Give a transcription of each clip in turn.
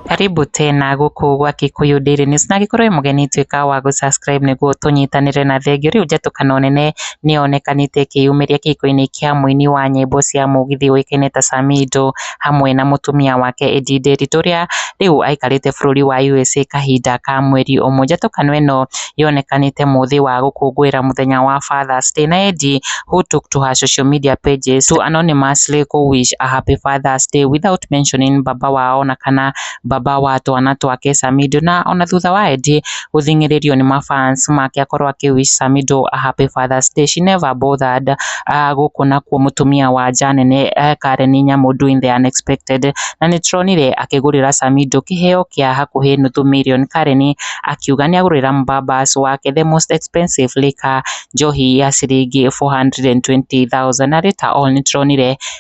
Karibu tena gũkũ gwa Kikuyu Daily News na angĩkorwo wĩ mũgeni tuĩka wa gũ subscribe nĩguo tũnyitanĩre na thengiũ rĩu njatũkana nene nĩyonekanĩte ĩkĩyumĩria kĩhiko-inĩ kĩa mũini wa nyĩmbo cia mũgithi ũĩkaine ta Samido. hamwe na mũtumia wake Eddie Nderitu ũrĩa rĩu aikarĩte bũrũri wa USA kahinda ka mweri ũmwe. Njatũkano ĩno yonekanĩte mũthĩ wa gũkũngũĩra mũthenya wa Father's Day na Eddie who took to her social media pages to anonymously go wish a happy Father's Day without mentioning baba wao na kana baba wa twana twake Samido, na ona thutha wa Eddie gũthing'ĩrĩrio nĩ mafans make akorwo akĩ wish Samido a happy father's day she never bothered uh, gũkũ nakuo mũtumia wa nja nene uh, Karen Nyamu doing the unexpected na nĩ tronire akĩgũrĩra Samido kĩheo kĩa hakuhĩ nuthu million Karen akiuga nĩ agũrĩra mbabas wake the most expensive liquor njohi ya ciringi 420,000 na later on nĩ tronire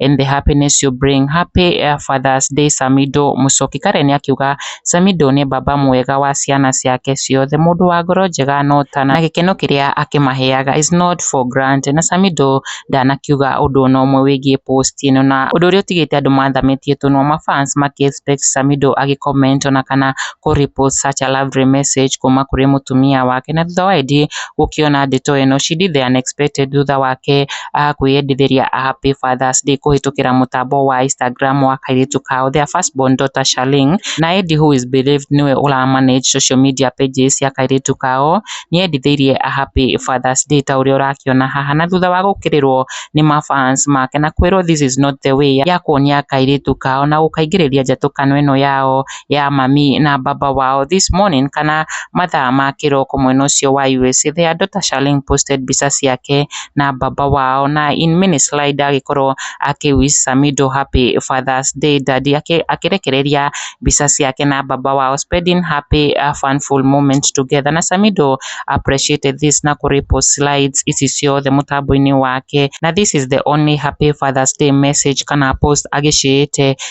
and the happiness you bring, happy father's day Samido, Mũchoki Karen akiuga Samido nĩ baba mwega wa ciana ciake ciothe, mũndũ wa ngoro njega no ta na gĩkeno kĩrĩa akĩmaheaga is not for granted na Samido ndanakiuga ũndũ ona ũmwe wĩgiĩ post ĩno na ũndũ ũrĩa ũtigĩte andũ mathamĩtie tũnua ma fans makĩ expect Samido agĩ comment ona kana kũ repost such a lovely message kuma kũrĩ mũtumia wake na thutha wa Eddie gũkĩona ndeto ĩno she did the unexpected thutha wake a kwĩyendithĩria a Happy Father's Day kũhĩtũkĩra mũtambo wa Instagram wa kairĩtu kao their first born daughter Shalin na Edi who is believed nĩwe ũra manage social media pages cia kairĩtu kao nĩendithĩirie a Happy Father's Day ta ũrĩa ũrakĩona haha na thutha wa gũkĩrĩrwo nĩ ma fans make na kwĩrwo this is not the way ya kuonia kairĩtu kao na gũkaingĩrĩria njatũkano ĩno yao. ya mami na baba wao this morning kana mathaa ma kĩroko mwena ũcio wa USA their daughter Charlene posted mbica ciake na baba wao na in mini slide agĩkorwo akĩ wish Samido happy father's day daddy akĩrekereria mbica ciake na baba wao spending happy funful moments together na Samido appreciated this na kũ repost slides ici ciothe mũtambo-inĩ wake na this is the only happy father's day message kana post agĩciĩte